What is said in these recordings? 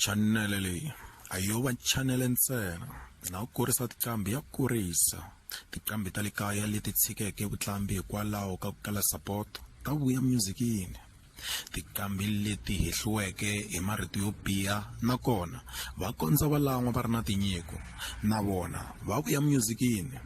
chanele leyi a yo va chanele ntsena na ku kurisa tiqambi ya kurisa tiqambi ta le kaya leti tshikeke vuqambi hikwalaho ka ku kala sapoto ta vuya myuzikini tiqambi leti hehliweke hi marito yo biha nakona va kondza va lan'wa va ri na tinyiko na vona va vuya myuzikini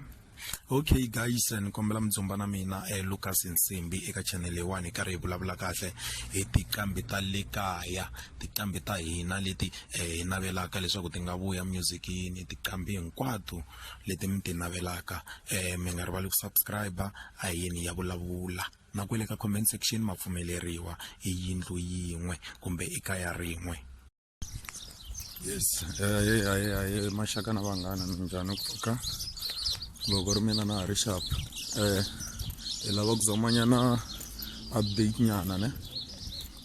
okay guys ni kombela mi dzumba na mina eh, lucas nsimbi eka channel leyiwani hi karhi hi vulavula kahle hi tiqambi ta le kaya tiqambi ta hina leti eh, hi navelaka leswaku ti nga vuya musicini tiqambi hinkwato leti mi ti navelaka eh, mi nga rivali ku subscribe a hi yini ya vulavula na kwele ka comment section ma pfumeleriwa i yindlu yin'we kumbe i kaya rin'we yes aye aye aye maxaka na vanghana mi njhani ku pfuka loko ri mina na ha ri xap um eh, hi lava ku zamanyana update nyana ne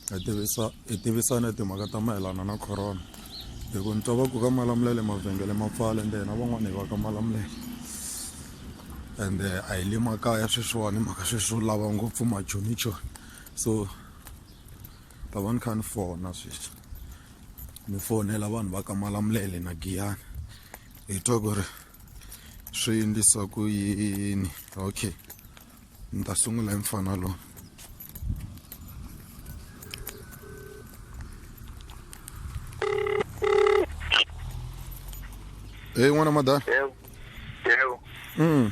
hi tivisa hi tivisana timhaka ta mayelana na corona hi ku ni twa va ku ka malamulele mavhengele ma pfala ende hina van'wana hi va ka malamulele ende eh, a hi le makaya sweswiwani mhaka sweswo lava ngopfu majonichoni so ta va ni kha ni fona sweswi ni fonela vanhu va ka malamulele na giyana hi twa ku ri swi endlisa ku yini okay ni ta sungula hi mfana lowu Hey, n'wana madala. Yebo. Yebo. Mm.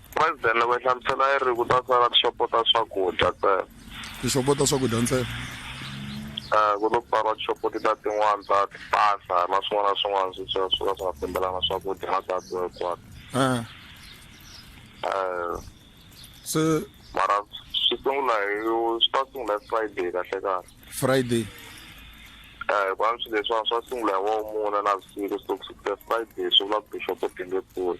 President loko yi hlamusela yi ri ku ta sala tixopo ta swakudya ntsena tixopo ta swakudya ntsena um ku to pfariwa tixopo ti ta tin'wana ta tipasa na swin'wana na swin'wana swi swi swi ka swi nga fambelana swakudya na data hinkwato um um se mara swi sungula hi swi ta sungula hi friday kahle kahle friday um hikuva swilo leswiwana swa sungula hi womune na vusiku so ku sukela friday swi vula ku tixopo ti nge pfuli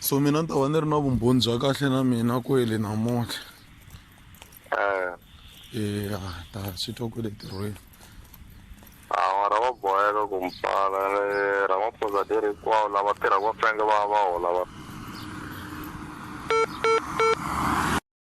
so mina ni ta va ni ri na vumbhoni bya kahle na mina kwele namuntlha eh. eya ta swi twa kwele tirhweni hawa ra va boheka ku mi pfala ra maphonza ti ri hinkwawo lava tirhaka va fanele va va hola va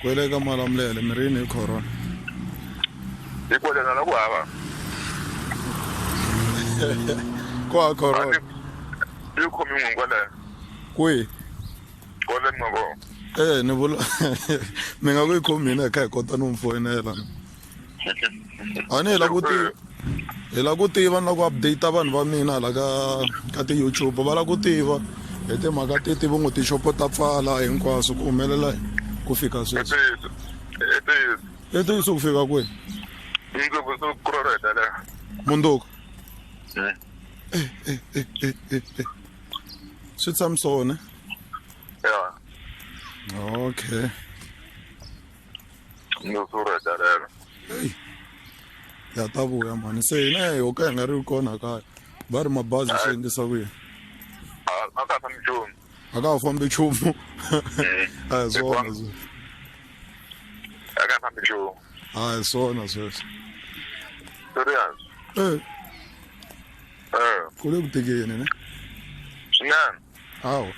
kwele ka malamulele mi ri yini hi corona hi kwelena na ku hava ko ha corona yi khomi n'wi kwaleno kwihi kwaleni mavoko e ni vula mi nga ku yi khomi hina hi kha hi kota no mi foyinela a ni hi la ku tiva hi la ku tiva ni la ku update vanhu va mina hala ka ka ti-youtube va la ku tiva hi timhaka ti tivo ngo tixopo ta pfala hinkwaswo ku humelela ku fika sweswi i ntiyiso ku fika kwihi mundzuku swi tshamisone okay no sura darero ya ta vuya mhani se hina hi ho ka hi nga ri kona kaya va ri mabazi swi endlisa ku yini a ka fambi nchumu a ka ha fambi nchumu a hi swona sweswo a ka fambi nchumu a hi swona sweswo serious Eh, eh ku le ku tikeni ne swinene hawu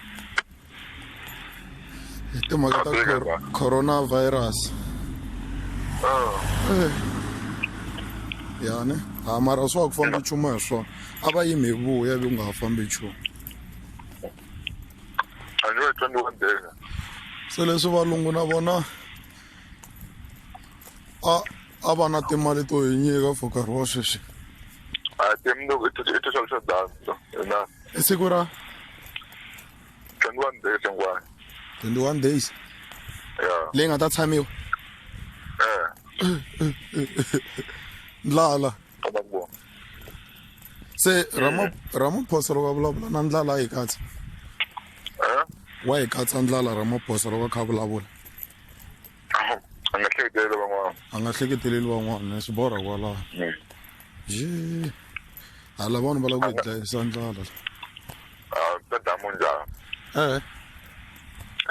hi timhaka ta Katseka cor- ba. coronavirus Ah, Eh. ya ne ha mara swa ku famba nchumu hi swona a va yimi hi vuya ivi ku nga ha fambi nchumu a ni va tlangi wa ndenga se leswi valungu na vona a a va na timali to hi nyika for nkarhi wa sweswi a ti mi i ti swa swa danza na i siku ra 21 days hinkwayo 21 days ya leyi nga ta tshamiwa eh ndlala kama ku vona se Rama- ramaphosa loko a vulavula na ndlala a yi katsa eh wa yi katsa ndlala ramaphosa loko a kha a vulavula a nga hleketeleli van'wana a nga hleketeleli van'wana swi borha kwalaho mm. ye hala vanhu va lava ku hi dlayisa ndlala ta damu njhani ee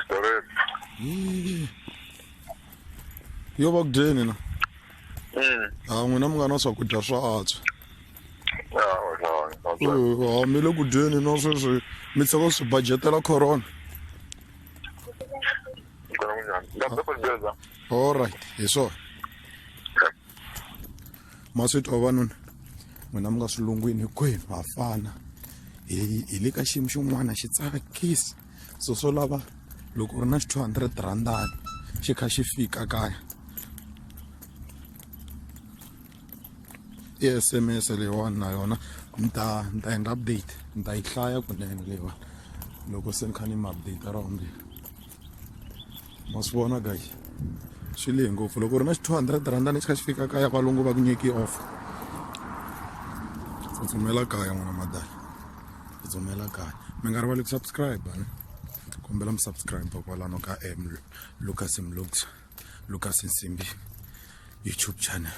storeni yo va ku dyeni na mm. a n'wina mi nga na swakudya swa antswa ha mi le ku dyeni na sweswi mi tlhela swi budgetela corona all right hi swona ma swi twa vanuna n'wina mi nga swilungwini hinkwenu ha fana hi hi le ka xiyimo xin'wana xi tsakisa so swo lava loko u ri na xi 200 randani xi kha xi fika kaya i s m s leyiwani na yona ni ta ni ta endla update ni ta yi hlaya kunene leyiwani loko se ni kha ni mi update ra vumbirhi ma swi vona guy swi lehe ngopfu loko u ri na xi two hundred rhanda ni xi kha xi fika kaya valungu va ku nyiki off tsutsumela kaya n'wana madala tsutsumela kaya mi nga rivali ku subscribe ne kombela mi subscribe kwalano ka m lucas mlux lucas nsimbi youtube channel